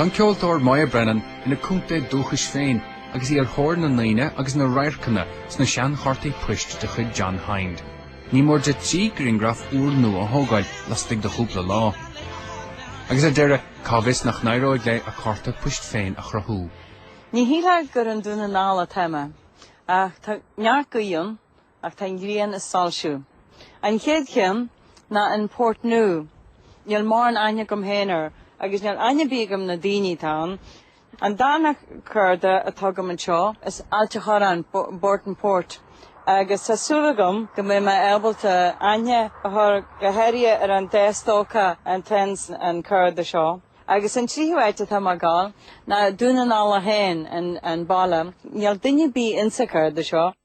Tá an ceoltóir Moya Brennan ina contae dúchais féin agus í ar thóir na ndaoine agus na radharcanna sna seanchártaí poist de chuid John Hinde. Ní mór di trí ghrianghraf úrnua a thógáil laistigh de chúpla lá. Agus ar deireadh, Cá bhfios nach n-éireoidh léi a cárta poist féin a chruthú? Ní shílfeá gur i nDún na nGall atá mé, ach tá neart gaoithe ann, ach tá an ghrian ag soilsiú. An chéad cheann ná an Port Nua. Níl mórán aithne agam féin air, agus níl aithne ar bith agam ar na daoine atá ann. An darna carda atá agam anseo, is Ailt a' Chorráin, Burtonport, agus tá súil agam go mbeidh mé ábalta aithne a chur go háirithe ar an dá stócach atá insa carda seo. Agus an tríú áit atá mé a gabháil ná Dún na nGall é féin, an baile. Níl duine a' bith insa carda seo.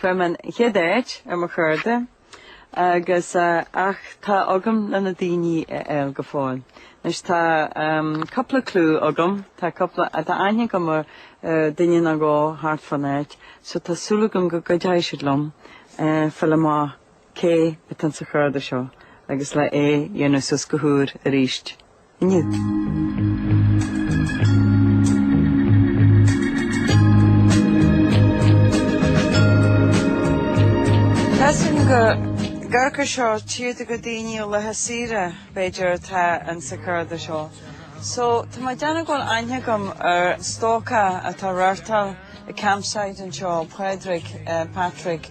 Fuair mé an chéad áit ar mo charda agus ach tá agam le na daoine a fháil go fóill. Anois tá cúpla clú agam, tá cúpla, tá aithne agam ar duine nó dhó thart fán áit, so tá súil agam go gcuideoidh siad liom fáil amach cé atá sa charda seo agus le é dhéanamh suas go húr arís. Measaim go gcuirfeadh seo tíortha go daoine ó laetha saoire, b'fhéidir, atá insa charda seo. So, tá mé ag déanamh go bhfuil aithne agam ar stócach atá ag reáchtáil an campsite anseo, Pádraig, eh, Patrick,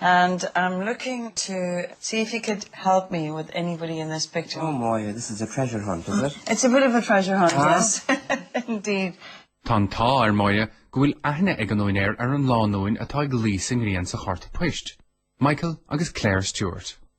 And I'm looking to see if you could help me with anybody in this picture. Oh Moya, this is a treasure hunt, is it? It's a bit of a treasure hunt, ah. yes, indeed. Tá an t-ádh ar Moya go bhfuil aithne ag an úinéir ar an lánúin atá ag luí sa ngrian sa chárta poist, Michael agus Claire Stewart.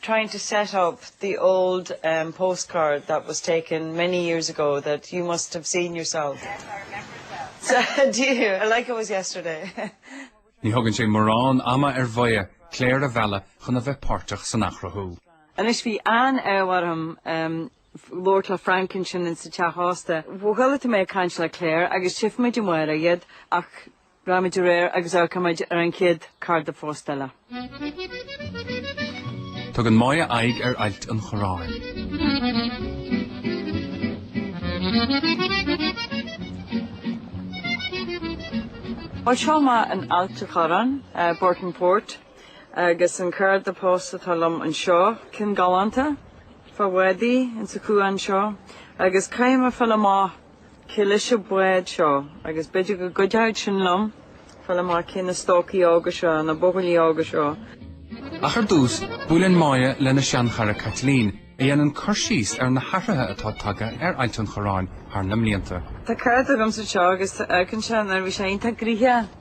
trying to set up the old um postcard that was taken many years ago that you must have seen yourself. Yes, I remember it well. So do you, like it was yesterday. Ní thugann sé mórán ama ar Mhoya Claire a mhealladh chun a bheith páirteach san athchruthú. Anois bhí an t-ádh orm um labhairt le Frank ansin ins sa teach ósta. Chuala sibh mé ag caint le Claire agus tífimid amárach iad ach Rachaimid ar aghaidh agus amharcaimid ar an chéad carda posta eile. Tugann Moya aghaidh ar ailt an chorráin. Ó seo muid in Ailt a' Chorráin, Burtonport, agus an carda post atá liom anseo, cinn galánta, fá bhádaí, ins a chuan seo, agus caithfidh mé fáil amach Cé leis an bád seo, agus b'fhéidir go gcuideoidh sin liom fáil amach cé na stócaí óga seo, na buachaillí óga seo. Ach ar dtús, buaileann Máire lena seanchara Caitlín, a dhéanann cur síos ar na hathruithe atá tagtha ar Ailt an Chorráin thar na mblianta. Tá cead agamsa seo, agus tá cuimhne agamsa, nuair a bhí sé iontach gnoitheach.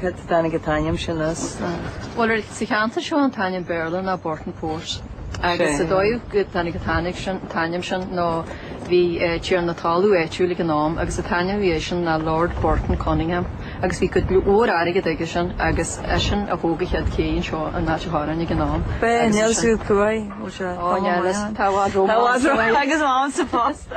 Cad a dtáinig an t-ainm sin as? Bhuel, sa cheantar seo an t-ainm Béarla ná Burtonport. Agus an dóigh go dtáinig an t-ainm sin, t-ainm sin ná bhí tiarna talún áitiúil ag an am agus an t-ainm a bhí aige sin ná Lord Burton Conyngham agus bhí cuid mhór airgid aige sin agus eisean a thóg an chéad ché anseo in Ailt an Chorráin ag an am. Ba é Neil Sue Coy, bhfuil sé? Ó, Neil, tá a bhfad rómánsúil. Tá a bhfad rómánsúil agus mámsa fosta.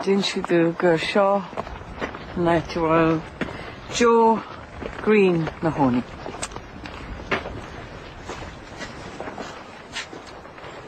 D'inis siad domh gur seo an áit a raibh Joe Green na hÓmaí.